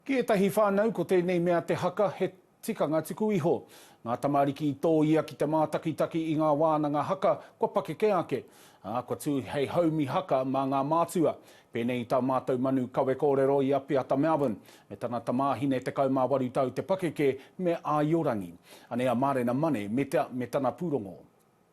Ki ētahi whānau, ko tēnei mea te haka he tikanga tuku iho. Ngā tamariki i tōia ki te mātakitaki i ngā wānanga haka kua pakeke ake, ā, kua tū hei haumi haka mā ngā mātua. Pēnei i tā mātou manu kawe kōrero i a Piata Melbourne, me tana tamāhine 18 tau te pakeke me Āiorangi. Anei a Marena Mane me tana pūrongo.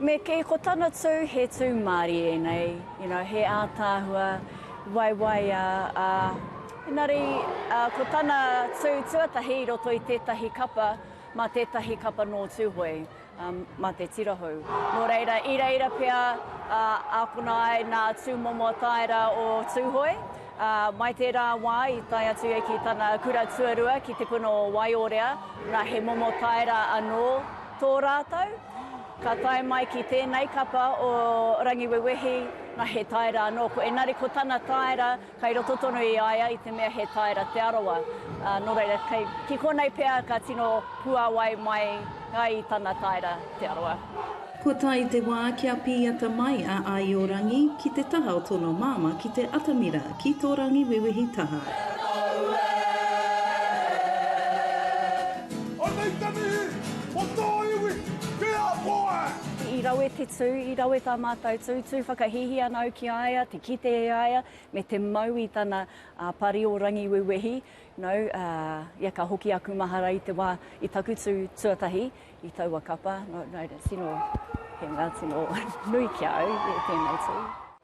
Me kī, ko tana tū, he tū mārie nei, you know, he ātaahua, waiwaiā, ā, engari, ā, ko tana tū tuatahi i roto i tētahi kapa, mā tētahi kapa nō Tūhoe, ā, mā te Tirahou. Nō reira, i reira pea, ā, ākona ai nā tūmomo tāera o Tūhoe, ā, mai tērā wā i tae atu ia ki tana kura tuarua ki te puna o Waiorea, nā, he momo tāera anō tō rātou. Ka tae mai ki tēnei kapa o Rangiwewehi, na he taera anō ko engari ko tana taera kai roto tonu i a ia i te mea he taera Te Arawa. Nō reira, ki konei pea ka tino puawai mai ai i tana taera Te Arawa. Kua tae te wā kia pīata mai a Aiorangi ki te taha o tōna māmā ki te atamira ki tō Rangiwewehi taha. Anei te mihi mo tō iwi te ako e! I rawe te tū, i rawe tā mātou tū, tū whakahīhī ana au ki a ia, te kite e a ia, me te mau i tana pari o Rangiwewehi, no, ia ka hoki aku mahara i te wā i taku tū tuatahi i taua kapa, no, no, tino, he mea tino nui ki a au tēnei tū.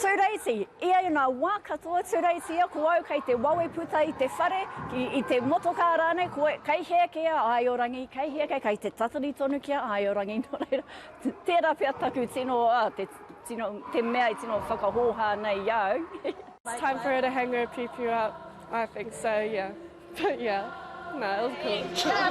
Tūreiti, ia i ngā wā katoa Tūreiti ia ko au kei te wawe puta i te whare, i te motokā rānei koe, kei hea kē a Aiorangi, kei hea kē, kei te tatari tonu ki a Aiorangi, nō reira, tērā pea taku tino, te mea i tino whakahōhā nei i a au. It's time for her to hang her piu piu up, I think so, yeah. yeah, nah, it was cool.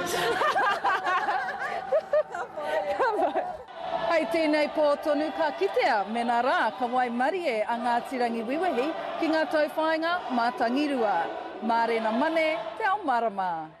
Hei tēnei pō tonu ka kitea mēnā rā ka waimarie a Ngāti Rangiwewehi ki ngā tauwhāinga mā Tangirua, mā Rena Mane te ao marama.